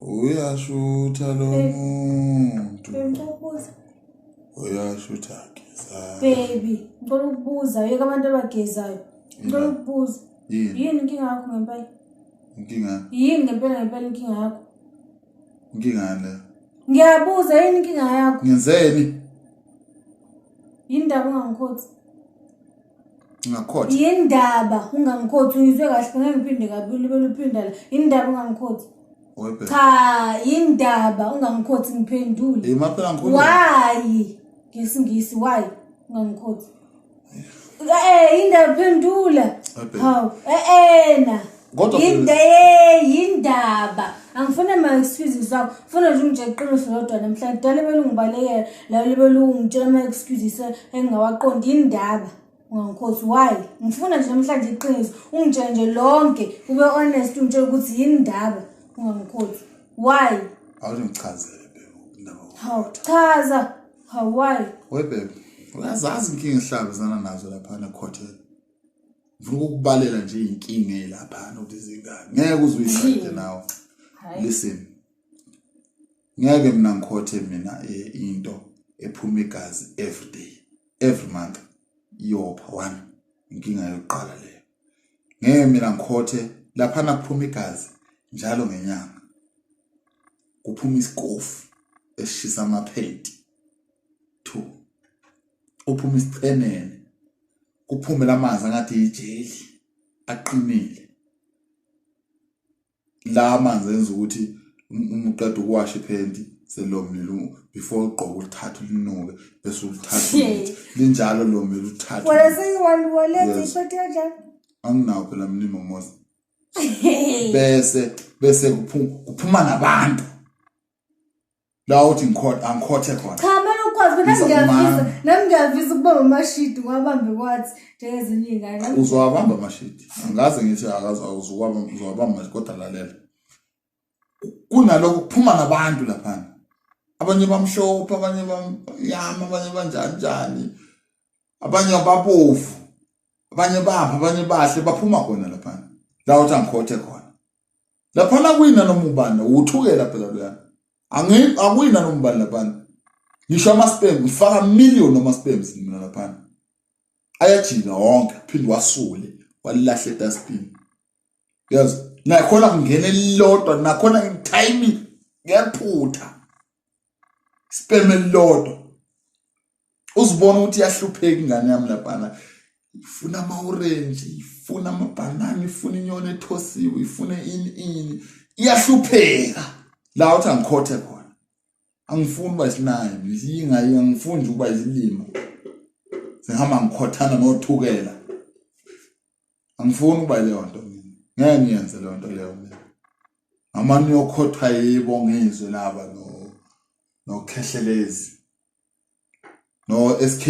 uyashutha lo muntu Bengibuza uyashutha geza baby ngicela ukubuza yeka abantu abagezayo ngicela Yini? ukubuza yini yini inkinga yakho ngempela inkinga yini ngempela ngempela inkinga yakho inkinga yani leyo ngiyabuza yini inkinga yakho ngenzeni yini ndaba ungangikhothi Ngakhothi. Yindaba ungangikhothi uyizwe kahle ngeke ngiphinde kabili belo uphinda la. Yindaba ungangikhothi. Webe. Cha, yindaba ungangikhothi ngiphendule. Hey maphela ngikhuluma. Why? Ngesingisi why ungangikhothi? Eh, yindaba phendula. Webe. Hawu, eh ena. Kodwa yinda yindaba angifuna ma excuse zabo funa nje ungitshela iqiniso lodwa namhlanje dala belungibalekela la lebelungitshela ama excuses engingawaqondi indaba ngangikhosi why ngifuna nje namhlanje iqiniso ungitshele nje lonke ube honest ungitshela ukuthi yini indaba ungangikhosi why awungichazele bebe indaba hawu chaza hawu why we bebe uyazazi inkinga ihlabezana nazo lapha nekhotela ngifuna ukukubalela nje inkinga elapha nokuthi zingane ngeke uzuyisayide nawe listen ngeke mina ngikhothe mina eh, into ephuma igazi every day every month iyopha one inkinga yokuqala leyo ngeke mina ngikhothe lapha nakuphuma igazi njalo ngenyanga kuphuma isikofu esishisa amaphenti 2 uphuma isichenene kuphume lamanzi angathi ijeli aqinile la amanzi enza ukuthi uma uqeda ukuwasha iphenti selomile before ugqoka ulithatha ulinuke bese ulithatha linjalo lomile uthatha wena seyiwali walezi iphenti kanjani anginawo phela mlimo mosi bese bese kuphuma nabantu la uthi ngikhothe angikhothe khona cha manje ukwazi mina ngiyafisa nami ngiyafisa ukuba umashidi wabambe kwathi njengezinye ingane uzowabamba amashidi angaze ngithi akazi awuzowabamba uzowabamba manje kodwa lalela kunalokho kuphuma nabantu lapha abanye bamshopha abanye bamnyama abanye banjani njani abanye ababovu abanye bapha abanye bahle baphuma khona lapha la uthi angikhothe khona laphana kuyina noma ubani uthukela phela loyana angi akuyina noma ubani laphana ngisho amaspem ngifaka million amaspams mina laphana ayajika wonke phinde wasule walahle dustbin yazi nakhona kungena elilodwa nakhona timing ngephutha sperm elilodwa uzibona ukuthi yahlupheka ingane yami laphana ifuna ama orange ifuna ama banana ifuna inyoni ethosiwe ifuna ini ini iyahlupheka la uthi angikhothe khona angifuni uba isinayo yinga angifuni ukuba izilima sihamba ngikhothana nothukela angifuni ukuba leyo nto mina ngeke ngiyenze leyo nto leyo mina noma niyokhotha yibo ngizwe laba no nokheshelezi no SK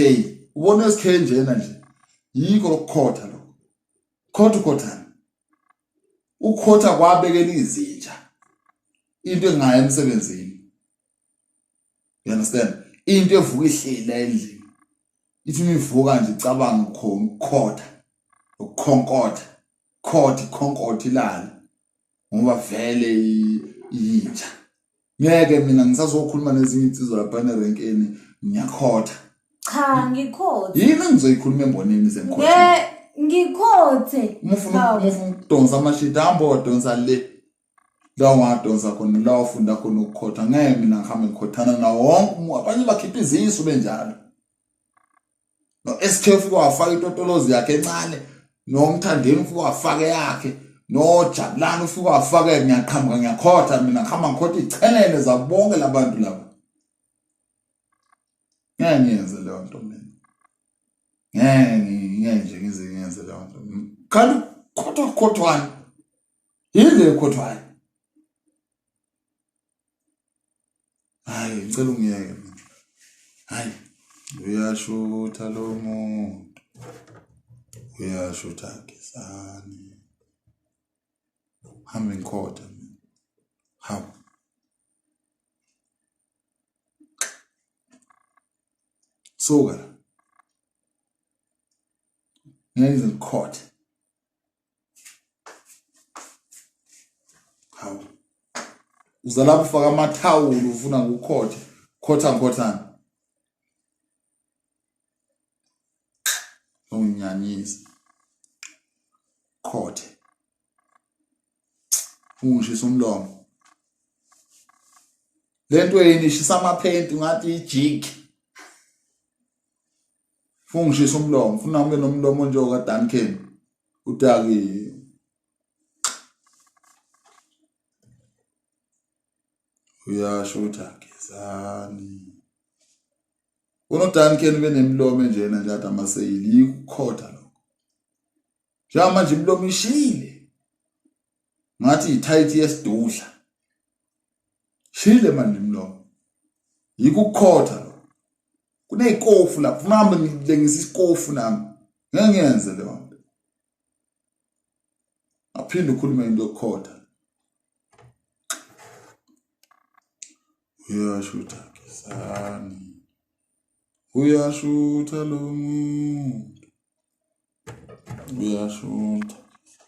ubona SK njena nje yiko lokukhotha lo khotha ukhothana ukhotha kwabekela izinja into engaye emsebenzini you understand into evuka ihlila endlini ithi imivuka nje icabanga ukukhonkotha ukukhonkotha khothi khonkotha ilala ngoba vele yinja ngeke mina ngisazokhuluma nezinye insizwa lapha nerenkeni ngiyakhotha cha ngikhotha yini engizoyikhuluma embonini sengikhotha ngikhothe uma ufuna ukudonsa amashidi hambo donsa le la ungadonsa khona la ufunda khona ukukhotha ngeke mina ngihambe ngikhothana nawo wonke umuntu abanye bakhipha izisu benjalo no SK ufike wafaka itotolozi yakhe encane nomthandeni ufike wafaka yakhe nojabulani ufike wafaka ngiyaqhamuka ngiyakhotha mina ngihamba ngikhotha ichelele zabonke labantu laba ngeke ngiyenze leyo nto mina ngeke ngeke nje ngize ngiyenze leyo nto khala ukhothwa ukhothwani Yize ekhothwayo. Hayi ngicela ungiyeke mina. Hayi uyashutha lo muntu. Uyashutha Gezani. Hamba ngikhotha mina. Hamba. Suka la. Ngeke ngikhothe. hawu uzala kufaka amathawula ufuna kukhotha khotha ngikhothana unginyanyisa khothe ungishisa umlomo lento yini ishisa amaphenti ngathi ijiki funa ngishisa umlomo funa ngibe nomlomo njengoka Duncan udakiwe uyasho ukuthi agezani unodankeni benemilomo enjena nje ade amaseyili yikukhotha lokho njengoba manje imilomo ishile ngathi yithayithi yesidudla shile manje imilomo yikho ukukhotha lo kunezikofu lapho funa hambe ngilengisa isikofu nami ngeke ngiyenze leyo nto aphinde ukhulume into yokukhotha uyasho ukuthi akizani Uyashutha lo muntu. Uyashutha.